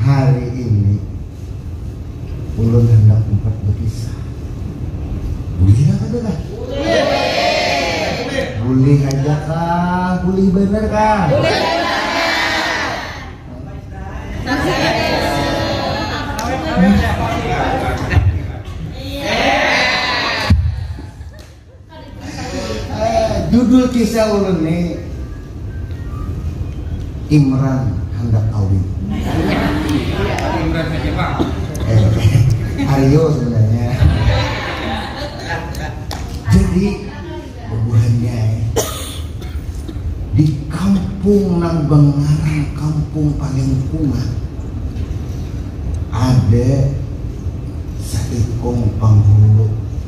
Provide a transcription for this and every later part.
Hari ini ulun handak umpat bakisah. Bulih kah kada kah? Bulih. Bulih haja kah? Bulih banar kah? Bulih banar. Judul kisah ulun ni Imran handak kawin. Eh, Aryo sebenarnya. Jadi bubuhannya di kampung nang bangaran Kampung Palengkungan ada saikung panghulu.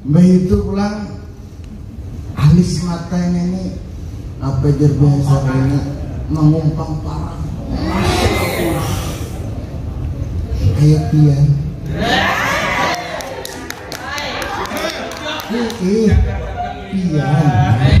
Mbaitu pulang, alis mata ngini, apa jar buhan Sabrina, mangumpang parang. Masyaallah. Kaya pian. Ih, pian.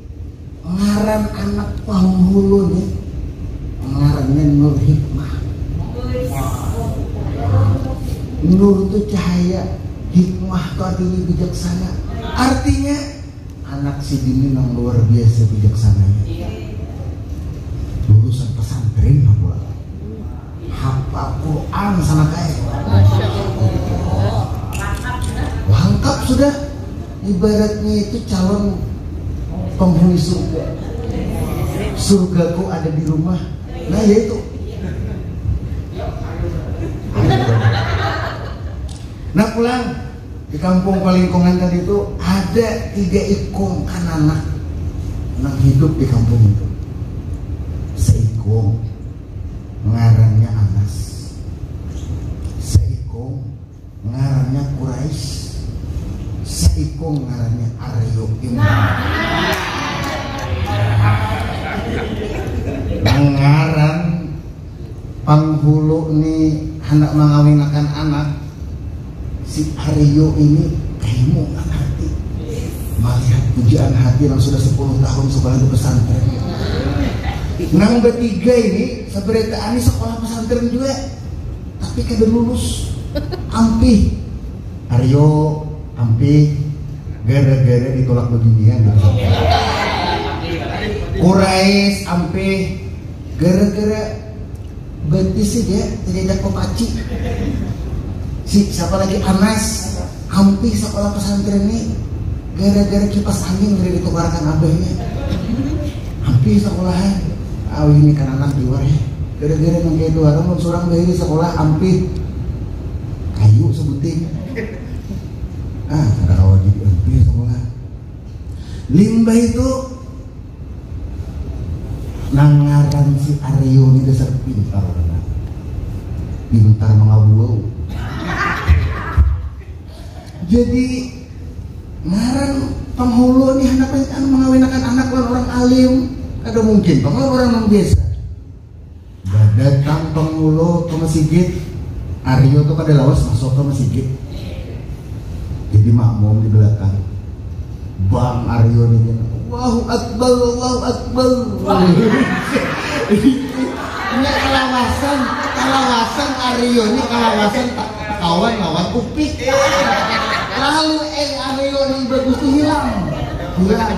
Ngaran anak panghulu ni ngarannya Nur Hikmah. Nur tu cahaya, hikmah tu artinya bijaksana. Artinya anak sidini nang luar biasa bijaksananya. Lulusan pesantren nah buah. Hafal Quran sanak ai. Langkap sudah. ibaratnya itu calon penghuni surga surgaku ada di rumah nah ya itu nah pulang di kampung Palingkongan tadi itu ada tiga ikung anak-anak yang hidup di kampung itu seikung ngarannya Anas seikung Ngarannya Quraisy, saikung ngarannya Aryo Imran. Ngaran panghulu ni handak mangawinakan anak si Aryo ini kaimu nang hati malihat pujaan hati nang sudah 10 tahun sekolah di pesantren nang bertiga ini seberita ani sekolah pesantren juga Tapi kada lulus. Ampih. Aryo, ampih. Gara-gara ditulak babinian Kurais, ampih. Gara-gara betis aja cacacak papaci. Si, siapa lagi? Anas. Hampih sakolah pesantren ni gara-gara kipas angin kada ditukarakan abahnya. Hampih sakolahan awih ni kananak jua eh. Gara-gara nang kaya tu haram mun surang bahiri sakolah hampih kayu sabuting. Ah kada kawa gin hampih sakolah. Limbah itu. Nang ngaran si Aryo ni dasar pintar banar. Pintar mangabuau. Jadi ngaran panghulu ni handak mangawinakan anak lawan urang alim. Kada mungkin pang lawan urang nang biasa. Datang penghulu ke mesigit, Aryo tu kada lawas masuk ke mesigit, jadi makmum di belakang. Bang Aryo ni kena, Allahu Akbar, Allahu Akbar. Nya kalawasan, kalawasan Aryo ni kalawasan kawan lawan Upik. Lalu eh Aryo ni bagus tu hilang, hilang.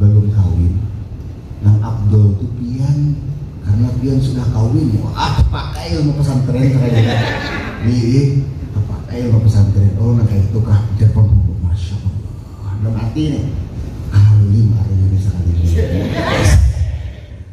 Balum kawin nang afdol tu pian karna pian sudah kawin wah tapakai ilmu pesantren sakalinya iih tapakai ilmu pesantren oh nang kaitu kah ujar pamburu masya allah dalam hati nih kahalulim ari ini sakalinya.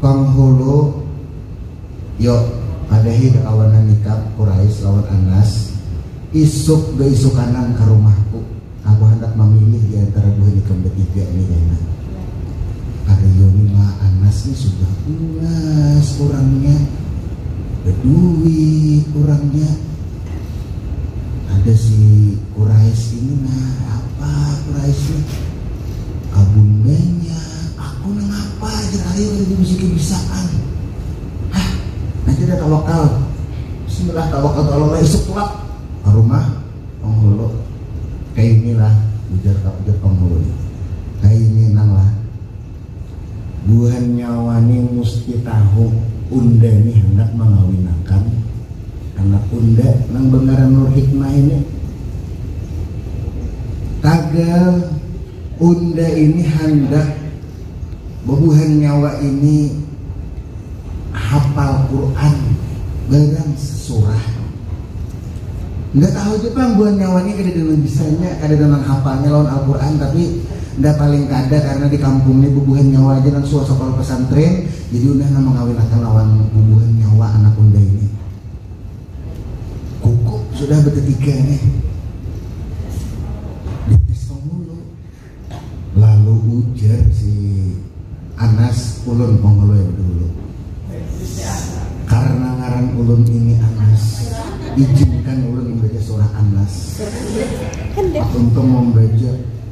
Panghulu, Yo, ada hi kakawanan nikah Quraisy lawan Anas, isuk beisukanan ka rumahku, aku handak mamilih di antara buhan ikam betiga ni kena. Ari yo ni ma, Anas ni sudah ungas urangnya, beduit urangnya, ada si Quraisy ini nah, apa Quraisy ni, kabun banyak. Aku nang apa jar Ayu tadi bisi kebisaan. Hah, nanti ada tawakal. Bismillah tawakal tu Allah isuk tulak ke rumah penghulu. Kayak inilah ujar tak ujar penghulu. Kayak ini nang lah. Buhan nyawa ni musti tahu unda ni handak mangawinakan anak unda nang bengaran Nurhikmah ini. Tagal. Unda ini handak babuhan nyawa ini hapal Quran barang sesurah. Nda tahu ja pang buhan nyawa ini kadada nang bisanya, kadada nang hapalnya lawan Al-Quran tapi nda paling kada karena di kampung ni bubuhan nyawa aja nang suah sakolah pesantren jadi unda nang mangawinakan lawan bubuhan nyawa anak unda ini. Kuku sudah bertiga nih. Dipisau mulu. Lalu ujar si Anas ulun mau ngeluin dulu. Karena ngaran ulun ini Anas, izinkan ulun membaca surah Anas. Aku untuk membaca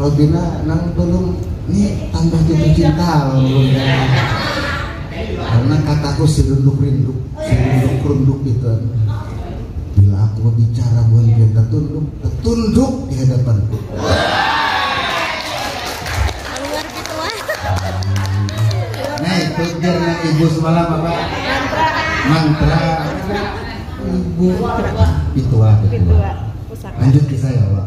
Robina nang belum ni tambah jatuh cinta lawan ulun kaya karna kataku si runduk rinduk si runduk runduk itu an bila aku babicara buhan pian tatunduk tatunduk di hadapanku nah itu jar nang ibu semalam apa mantra ibu tetua tetua lanjut kisah ya Allah.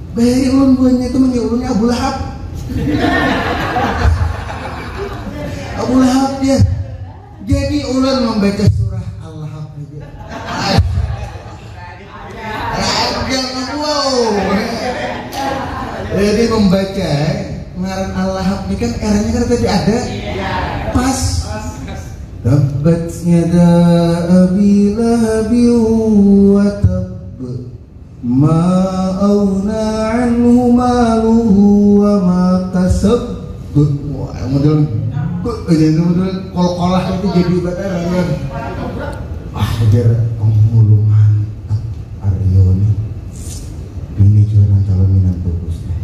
Bayari ulun buhannya itu manggil ulunnya Abu Lahab. Abu Lahab ya. Jadi ulun membaca surah Al-Lahab itu. Ragam wow. Jadi membaca eh, ngaran Al-Lahab ini kan eranya kan tadi ada. Pas Tabbat yada abi lahabi wa Ma aghna anhu maluhu wa ma kasab. Wah, model ini model kol-kolah itu jadi batara ya. Ah, ujar penghulu mantap Aryo nih. Ini juga nang calon minantu Gusnya.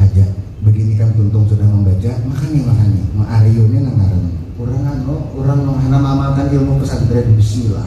Aja begini kan tuntung sudah membaca, makanya makanya. Ma Aryo nih nang ngaran. Orang anu, orang nang hanam amalkan ilmu pesantren bismillah.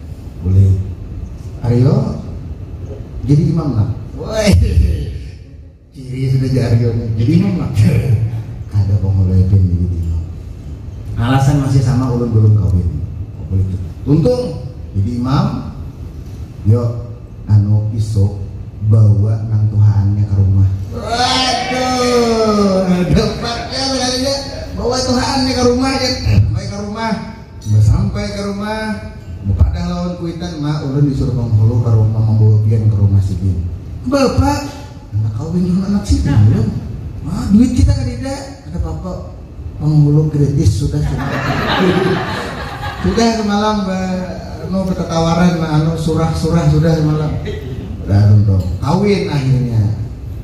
Boleh. Aryo jadi imam lah. Woi. Ciri sudah jadi Aryo jadi imam lah. Ada pemulai pin jadi imam. Alasan masih sama ulun belum kawin. Oh, boleh tuh. Untung jadi imam. Yo, anu isuk bawa nang tuhaannya ke rumah. Waduh, ada paknya bawa tuhaannya ke rumah kan. Imbah sampai ka rumah, bapadah lawan kuitan, Ma, ulun disuruh panghulu ka rumah mambawa pian ka rumah sidin. Bapa, handak kawin lawan anak sidin ulun. Ma, duit kita kadida. Kada papa, panghulu kritis sudah sudah. Sudah samalam ba anu batatawaran, ba anu surah-surah sudah samalam. Udah tuntung. Kawin akhirnya.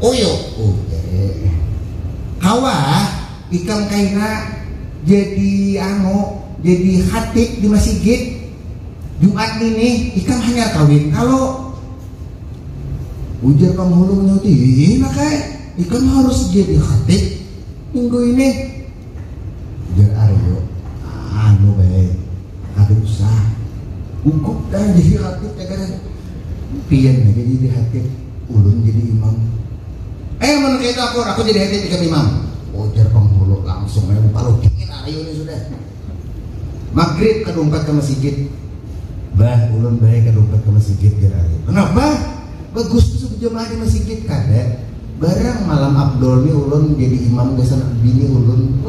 Oyo, oke. Kawa ikam kaina jadi anu, jadi khatib di masigit Jumat ngini, ikam hanyar kawin kalo? Ujar Panghulu manyauti, Hina kai, ikam harus jadi khatib minggu ini. Jar Aryo, anu bae, kada usah. Gugup dah jadi khatib jar Garang. Pian haja jadi khatib, ulun jadi imam. Eh mun kaya itu akur, aku jadi khatib ikam imam. Ujar Penghulu langsung ai mampalu dingin Aryo ni sudah. Magrib kada umpat ka masigit. Bah, ulun bae kada umpat ka masigit jar Aryo. Kenapa? Bagus tu sebujamaah di masigit. Kada. Barang malam abdol ni ulun jadi imam gasan bini ulun.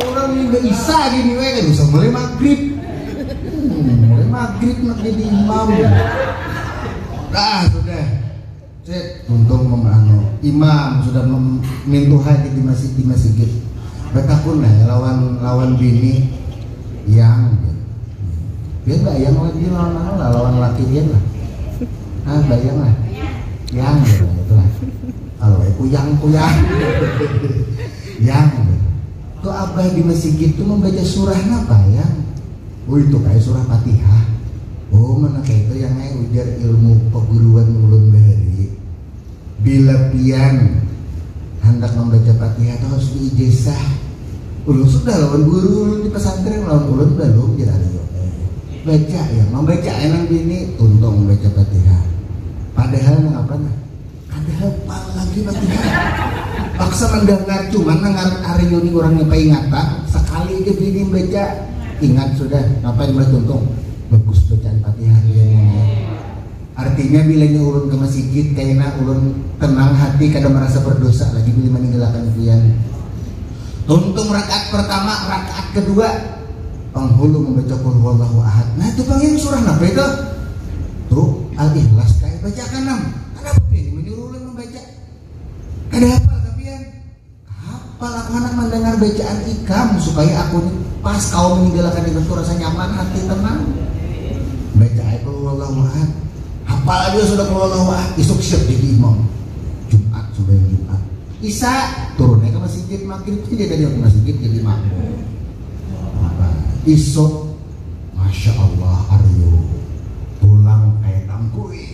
Urang ni ba isya gini weh kada usah mulai magrib. Hmm, mulai magrib nak jadi imam. Dah sudah. Cek untung memano imam sudah mintuha di masjid di masjid. Betakun lah lawan lawan bini yang dia bayang lagi lawan mana lah lawan laki dia lah ah bayang lah yang gitu itu lah kalau kuyang kuyang yang gitu tuh abah di masjid itu membaca surah apa ya oh itu kayak surah fatihah oh mana kayak itu yang ujar ilmu peguruan ulun bahari Bila pian handak mambaca Fatihah tu harus diijazah. Ulun sudah lawan guru ulun di pesantren lawan ulun balum jar Aryo. Baca ya, mambaca ai nang bini tuntung mambaca Fatihah. Padahal nang apa nah? Kada hafal lagi Fatihah. Paksa mandangar, cuman nang ngaran Aryo ni urangnya paingatan, sakali ja bini baca ingat sudah. Napa imbah tuntung? Bagus bacaan Fatihah iya nih. Artinya bilanya ulun ke masigit kaina ulun tenang hati kada marasa berdosa lagi bila maninggalakan Fian. Tuntung rakaat pertama, rakaat kedua panghulu mambaca qulhuwallahu ahad. Nah itu pang yang surah napa itu? Tu Al Ikhlas kah? Bacakan am. Kanapa Pian ni manyuruh ulun mambaca? Kada hafal kah Pian? Hapal aku handak mandangar bacaan ikam supaya aku ni pas kawa maninggal'akan ikam tu rasa nyaman hati tenang. Baca ai qul huwallahu ahad. Hapal ai jua sudah qul huwallahu ahad, isuk siap jadi imam. Jumat sumbayang Jumat. Isya turun ai ka masjid, magrib haja tadi aku masjid jadi makmum. Hapal. Isuk, Masya Allah Aryo pulang kaya tangkui.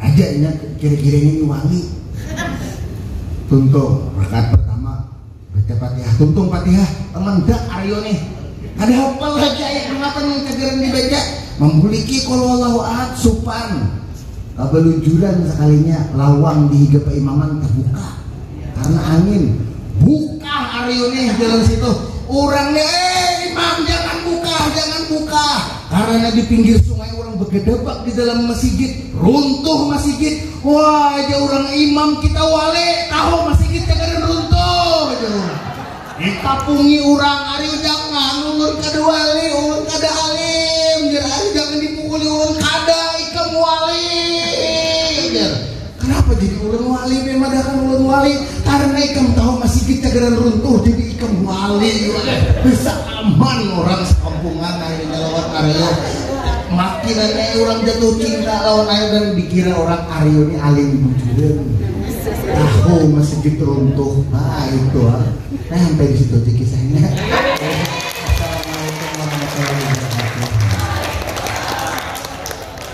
Aja inya kira-kira ini wangi. Tuntung, rakaat pertama baca Fatihah. Tuntung Fatihah, teman dak ayo nih. Kada hafal lagi ayat berapa nih kajaran dibaca. Membuliki kalau Allah ahad supan. Kabalujuran sekalinya lawang di higa imaman terbuka karena angin. Buka hari ini jalan situ. Orangnya, eh imam jangan buka, jangan buka. Karana di pinggir sungai urang bagedabak di dalam masigit, runtuh masigit. Wah, jar urang imam kita wale, tahu masigit cagaran runtuh, jar urang. Ditapungi urang, ari jangan ulun kada wali, ulun kada alim, jar ari jangan dipukuli ulun kada ikam wali, jar. Kenapa jadi ulun wali be madahkan ulun wali? Karena ikam tahu masih kita geran runtuh jadi ikam wali. Bisa aman orang sekampungan akhirnya lawan Aryo. Makin aja orang jatuh cinta lawan Aryo dan dikira orang Aryo ini alim bujuran. Tahu masih gitu runtuh. Nah itu ah. Nah sampai di situ aja kisahnya.